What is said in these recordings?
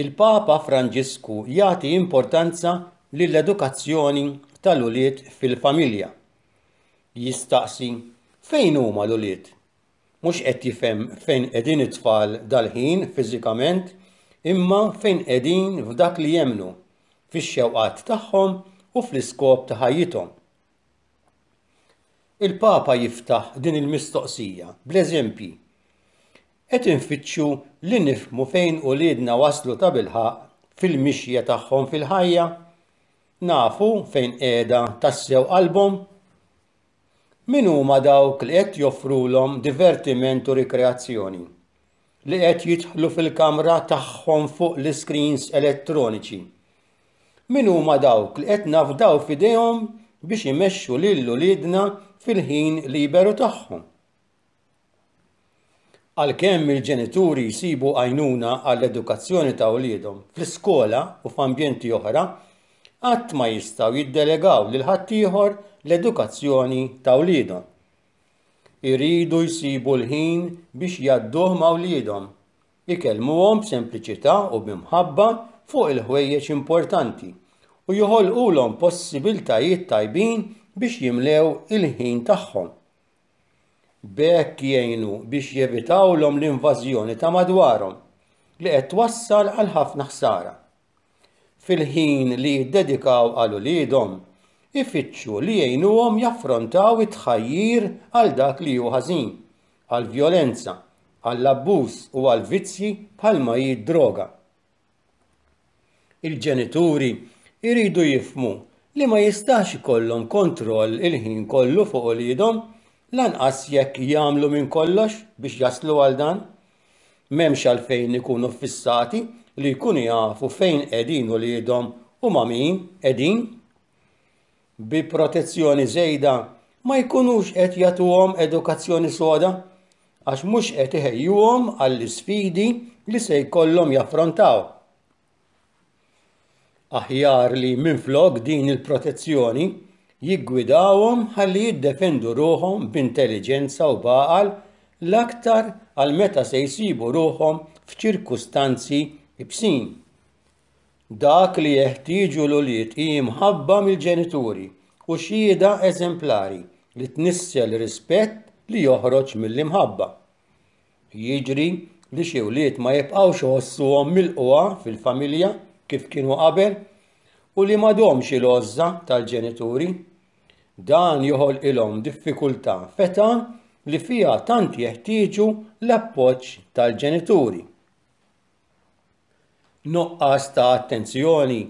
Il-Papa Franġisku jagħti importanza lill-edukazzjoni tal-ulied fil-familja. Jistaqsi, Fejn huma l-ulied? Mhux qed jifhem fejn qegħdin it-tfal dal-ħin fiżikament, imma fejn qegħdin f'dak li jemmnu, fix-xewqat tagħhom u fl-iskop ta' ħajjithom. Il-Papa jiftaħ din il-mistoqsija bl-eżempji. Qed infittxu li nifhmu fejn uliedna waslu tabilħaqq fil-mixja tagħhom fil-ħajja? Nafu fejn qiegħda tassew qalbhom? Min huma dawk li qed joffrulhom divertiment u rikreazzjoni? Li qed jidħlu fil-kamra tagħhom fuq l-iskrins elettroniċi? Min huma dawk li qed nafdaw f'idejhom biex imexxu lil uliedna fil-ħin liberu tagħhom? Għalkemm il-ġenituri jsibu għajnuna għall-edukazzjoni ta' wliedhom fl-iskola u f'ambjenti oħra, qatt ma jistgħu jiddelegaw lil ħaddieħor l-edukazzjoni ta' wliedhom. Iridu jsibu l-ħin biex jgħadduh ma' wliedhom, ikellmuhom b'sempliċità u bi mħabba fuq il-ħwejjeġ importanti, u joħolqulhom possibiltajiet tajbin biex jimlew il-ħin tagħhom. B'hekk jgħinu biex jevitawlhom l-invażjoni ta' madwarhom li qed twassal għal ħafna ħsara. Fil-ħin li jiddedikaw għal uliedhom, ifittxu li jgħinuhom jaffrontaw it-tħajjir għal dak li hu ħażin, għall-vjolenza, għall-abbuż u għall-vizzji bħalma hi d-droga. Il-ġenituri jridu jifhmu li ma jistax ikollhom kontroll il-ħin kollu fuq uliedhom lanqas jekk jagħmlu minn kollox biex jaslu għal dan. M'hemmx għalfejn ikunu ffissati li jkunu jafu fejn qegħdin uliedhom u ma' min qegħdin. bi protezzjoni żejda ma jkunux qed jagħtuhom edukazzjoni soda għax mhux qed iħejjuhom għall-isfidi li se jkollhom jaffrontaw. Aħjar li minflok din il-protezzjoni jiggwidawhom ħalli jiddefendu ruħhom b'intelliġenza u b'għaqal l-aktar għal meta se jsibu ruħhom f'ċirkustanzi ibsin. Dak li jeħtieġu l-ulied hi mħabba mill-ġenituri u xhieda eżemplari li tnissel rispett li joħroġ mill-imħabba. Jiġri li xi wlied ma jibqgħux iħossuhom milqugħa fil-familja kif kienu qabel u li m'għadhomx il-għożża tal-ġenituri. Dan joħolqilhom diffikultà f'età li fiha tant jeħtieġu l-appoġġ tal-ġenituri. Nuqqas ta' attenzjoni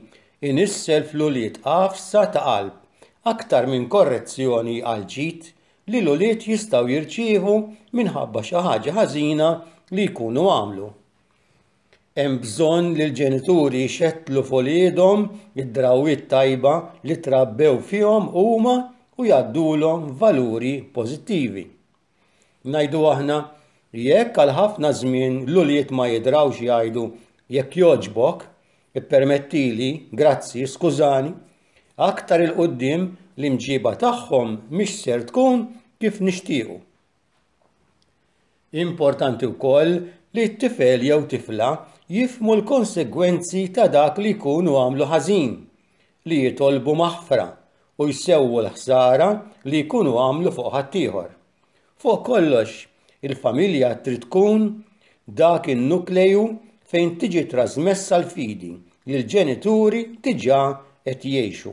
jnissel fl-ulied għafsa ta' qalb aktar minn korrezzjoni għall-ġid li l-ulied jistgħu jirċievu minħabba xi ħaġa ħażina li jkunu għamlu. Hemm bżonn li l-ġenituri jxettlu f'uliedhom id-drawwiet tajba li trabbew fihom huma u jgħaddulhom valuri pożittivi. Ngħidu aħna, jekk għal ħafna żmien l-ulied ma jidrawx jgħidu jekk jogħġbok, ippermettili, grazzi, skużani, aktar 'il quddiem l-imġiba tagħhom mhix ser tkun kif nixtiequ. Importanti wkoll li t-tifel jew tifla jifhmu l-konsegwenzi ta' dak li jkunu għamlu ħażin. li jitolbu maħfra u jsewwu l-ħsara li jkunu għamlu fuq ħaddieħor. Fuq kollox, il-familja trid tkun dak in-nukleju fejn tiġi trażmessa l-fidi li l-ġenituri diġà qed jgħixu.